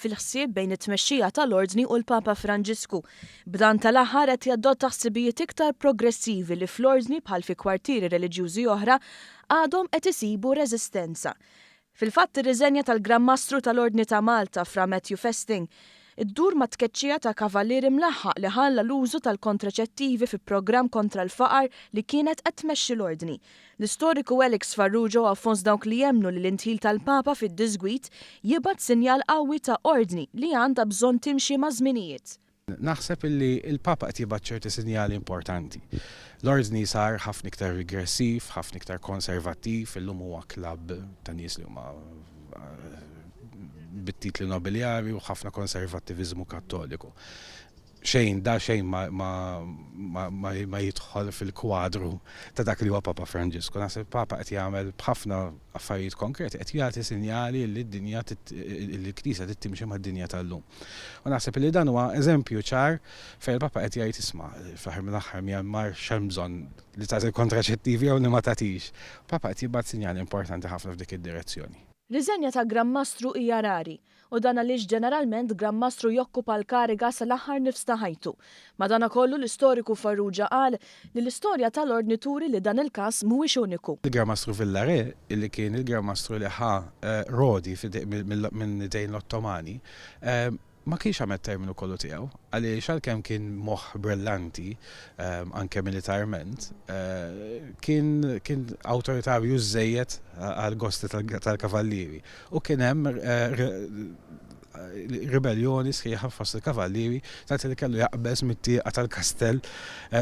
fil-ħsieb bejn it-tmexxija tal-Ordni u l-Papa Franġisku. B'dan tal-aħħar qed jadotta ħsibijiet iktar progressivi li fl-Ordni bħal fi kwartieri reliġjużi oħra għadhom qed isibu reżistenza. Fil-fatt ir-riżenja tal-Gran Mastru tal-Ordni ta' Malta, Fra Matthew Festing, Iddur mat-tkeċċija ta' Cavalieri mlaħħaq li ħalla l-użu tal-kontraċettivi fi programm kontra l-faqar li kienet qed tmexxi l-Ordni. L-istoriku Alex Farrugia huwa fost dawk li jemmnu li l-indħil tal-Papa fid-diżgwid jibgħat sinjal qawwi ta' Ordni li għandha bżonn timxi maż-żminijiet. Naħseb illi l-Papa qed jibgħat ċerti sinjali importanti. L-Ordni sar ħafna iktar rigressiv, ħafna iktar konservattiv, illum huwa klabb ta' nies li huma bit-titli nobiljari u ħafna konservattiviżmu Kattoliku. Xejn da xejn ma, ma, ma, ma, ma jidħol fil-kwadru ta' dak li huwa Papa Franġisku. Naħseb Papa qed jagħmel b'ħafna affarijiet konkreti, qed jagħti sinjali li d-dinja l-Knisja trid timxi mad-dinja tal-lum. U naħseb li dan huwa eżempju ċar fejn il-Papa qed jgħid isma' fl-aħħar mill-aħħar Myanmar x'hemm bżonn li tagħti l-kontraċettivi jew li ma tagħtix. Papa qed jibgħat sinjal importanti ħafna f'dik id-direzzjoni. Riżenja ta' Gran Mastru hija rari, u dan għaliex ġeneralment Gran Mastru jokkupa l-kariga sal-aħħar nifs ta' ħajtu. Madanakollu, l-istoriku Farrugia qal li l-istorja ta' l-Ordni turi li dan il-każ mhuwiex uniku. Il-Gran Mastru Villare, li kien il-Gran Mastru li ħa Rodi minn idejn l-Ottomani, Ma kienx għamel t-terminu kollu tiegħu, għaliex għalkemm kien moħħ brillanti, anke militarment, kien kien awtoritarju żżejjed għall-gosti tal-kavallieri u kien hemm ribelljoni sħiħa fost il-kavallieri tant li kellu jaqbeż mit-tieqa tal-kastell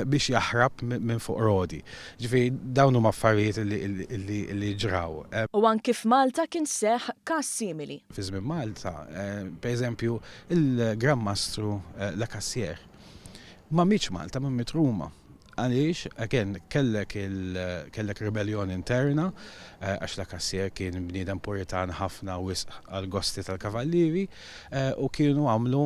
biex jaħrab minn fuq roti. Ġifieri dawn huma affarijiet li ġraw. U anki f'Malta kien seħħ każ simili. fi żmien Malta, per eżempju, il-Gran Mastru La Cassière ma mietx Malta, ma miet Ruma. Għaliex, again, kellek kellek rebellion interna, għax La Cassière kien bniedem puritan ħafna wisq għall-gosti tal-kavallieri, u kienu għamlu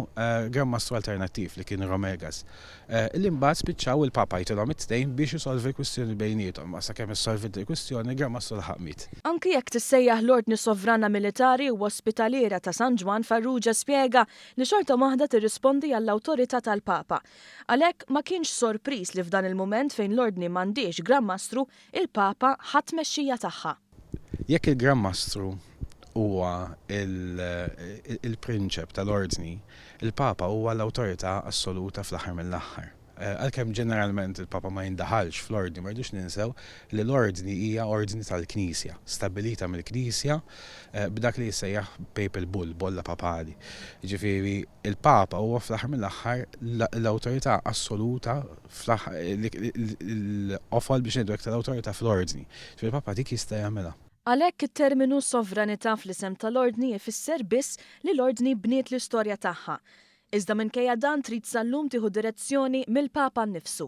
Gran Mastru alternattiv li kien Romegas. Illi mbagħad spiċċaw il-Papa jtilhom it-tnejn biex isolvi l-kwistjoni bejniethom. Ma sakemm issolviet il-kwistjoni, Gramassu laħaq miet. Anki jekk tissejjaħ l-Ordni Sovrana Militari u Ospitaliera ta' San Ġwann Farrugia spjega li xorta waħda tirrispondi għall-awtorità tal-Papa. Għalhekk, ma kienx sorpriż li f'dan il-mument fejn l-Ordni m'għandhiex Gran Mastru, il-Papa ħa t-tmexxija tagħha. Jekk il-Gran Mastru huwa l-prinċep tal-Ordni, il-Papa huwa l-awtorità assoluta fl-aħħar mill-aħħar. Għalkemm ġeneralment il-Papa ma jindaħalx fl-Ordni, ma rridux ninsew li l-Ordni hija ordni tal-Knisja, stabbilita mill-Knisja b'dak li jissejjaħ Papal Bull, bolla papali. Jiġifieri, il-Papa huwa fl-aħħar mill-aħħar l-awtorità assoluta l-qofol biex ngħidu hekk tal-awtorità fl-Ordni. Ġifieri l-Papa dik jista' jagħmilha. Għalhekk it-terminu sovranità fl-isem tal-Ordni ifisser biss li l-Ordni bniet l-istorja tagħha. Iżda minkejja dan trid sal-lum tieħu direzzjoni mill-Papa nnifsu.